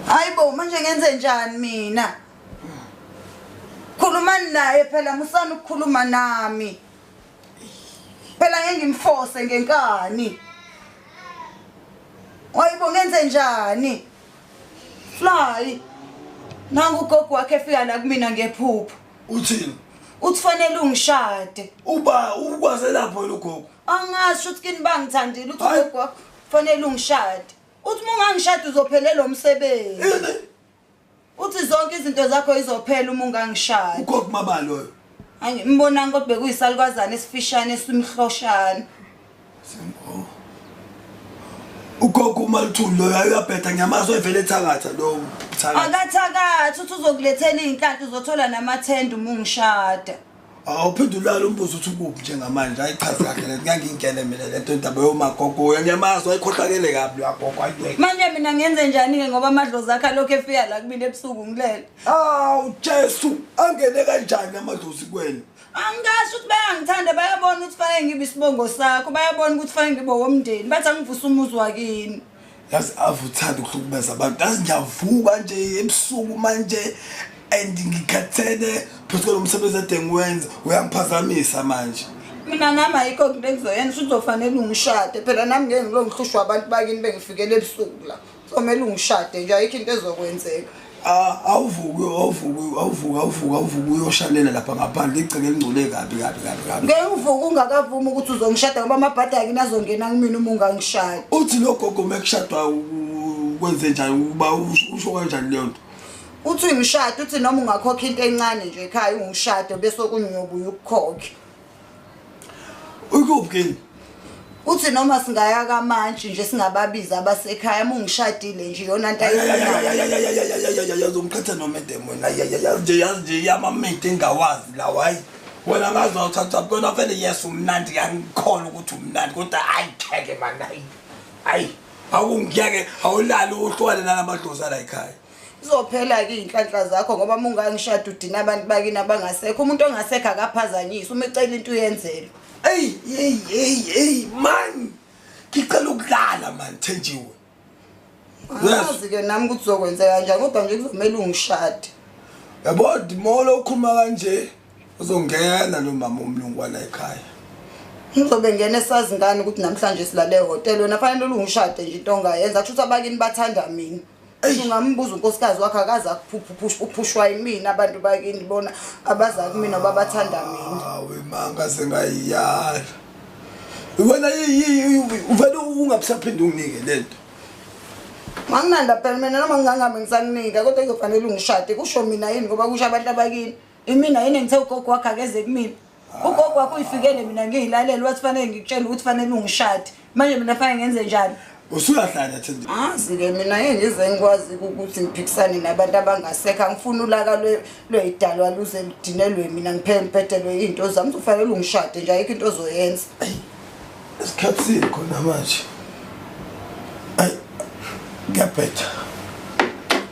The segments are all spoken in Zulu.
hayi bo manje ngenze njani mina khulumani naye phela musani ukukhuluma nami phela ngeke ngimfose ngenkani wayibo ngenze njani fly nangu ugogo wakhe efika la kumina ngephupho uthini uthi fanele ungishade uba ukwaze lapho yena ugogo angasho ukuthi kini bangithandile uthi Hayi. ugogo wakho fanele ungishade uthi uma ungangishade uzophelelwa umsebenzi Yini? Uthi zonke izinto zakho izophela uma ungangishaya. Ugogo mama loyo. Angi mbonanga kodwa bekuyisalukazana esifishane esimhloshana. Simbo. Ugogo uma luthuli loyo ayabhetha ngiyamazwe evele ethakatha lo. Akathakathi uthi uzokulethela izinhlanhla uzothola namathenda uma ungishada. awuphendulala umbuzo uthi ukuphi njengamanje hayi chazi kahle le ngangingene mina le nto indaba yomagogoya ngiyamazi wayikhohlakele kabi lwagogo ayibeke manje mina ngenze njani-ke ngoba amadlozi akhe alokhu efika la kumina ebusuku ngilele awu jesu angene kanjani amadlozi kwena angisho ukuthi bayangithanda bayabona ukuthi fanele ngibe isibongo sakho bayabona ukuthi fanele ngibe womndeni bathi angivusa umuzi wakini yazi ave uthanda ukuhlukumeza abantu yazi ngiyavuka nje ebusuku manje and ngikhathele phezu kwalo msebenzi ade ngiwenza uyangiphazamisa manje mina nami ayikho nto engizoyenza uzofanele ungishade phela nami ngeke ngilo ngihlushwa abantu bakini bengifikele ebusuku la somele ungishade nje ayikho into ezokwenzeka awuvuki awuvuki awuvuki awuvuki awuvuki uyoshalela lapha ngaphandle igceke elingcole kabi kabi kabi kabi ngeke uvuke ungakavumi ukuthi uzongishada ngoba amabhadi akini azongena kumina uma ungangishaya uthi lo gogo uma kushadwa kwenze njani ukuba usho kanjani leyo nto uthi uyishada uthi noma ungakhokha into encane nje ekhaya ungishade bese okunye uyobuya ukukhokhe Uyikuphi kini? Uthi noma singaya kamantshi nje singababiza abasekhaya uma ungishadile nje yona nto ayifunayo. Uzomqhatha noma edemoni. Yazi nje yazi nje yamamede engawazi lawa hayi. Wena ngazi wawuthatha kona vele yes umnandi ngiyangikholwa ukuthi umnandi kodwa hayi kheke mani hayi. Hayi awungiyeke awulali uhlwale nalamadlozi ala ekhaya. Izophela-ke iy'nhlanhla zakho ngoba uma ungangishada udina abantu bakini abangasekho umuntu ongasekho akaphazanyiswa uma ecela into uyenzelwa eyi eyi eyi eyi mani ngicela ukulala mani thenjiwe angazi-ke nami ukuthi uzokwenzeka njani kodwa nje kuzomele ungishade yabo dimolo ukhuluma kanje uzongena lo mama umlungwana ekhaya ngizobe ngena esazi ngani ukuthi namhlanje silale ehhotela wena fanele ulungishade nje into ongayenza kusho ukuthi abakini bathanda mina ungambuza unkosikazi wakhe akaze akuphushwa yimina abantu bakini bona abaza kumina babathanda mina wemanga sengayiyala wena uvele ungabusaphinde unginike le nto manginanda phela mina noma ngingangabe ngisakunika kodwa kuzofanele ungishade kusho mina yini ngoba kusho abantu abakini imina yini engithe ugogo wakhe akeze kumina ugogo wakho uyifikele mina ngiyilalela wathi fanele ngikutshele ukuthi fanele ungishade manje mina fanele ngenze njani usuyahlanya thindi azi-ke mina engize ngikwazi ukuthi ngiphikisane nabantu abangasekho angifuni ulaka lweyidalwa luze ludinelwe mina ngiphele ngiphethelwe iy'nto zami uzofanele ungishade nje ayikho into ozoyenza esikhathini khona manje ayi ngiyabhetha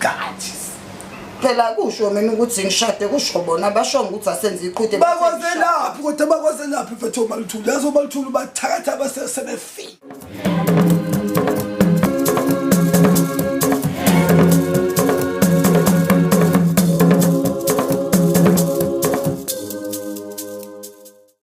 gathi phela kusho mina ukuthi ngishade kusho bona basho ukuthi asenze iqhude bakwazelaphi kodwa bakwazelaphi mfethu omaluthulu yazi omaluthulu bathakatha abasesebefile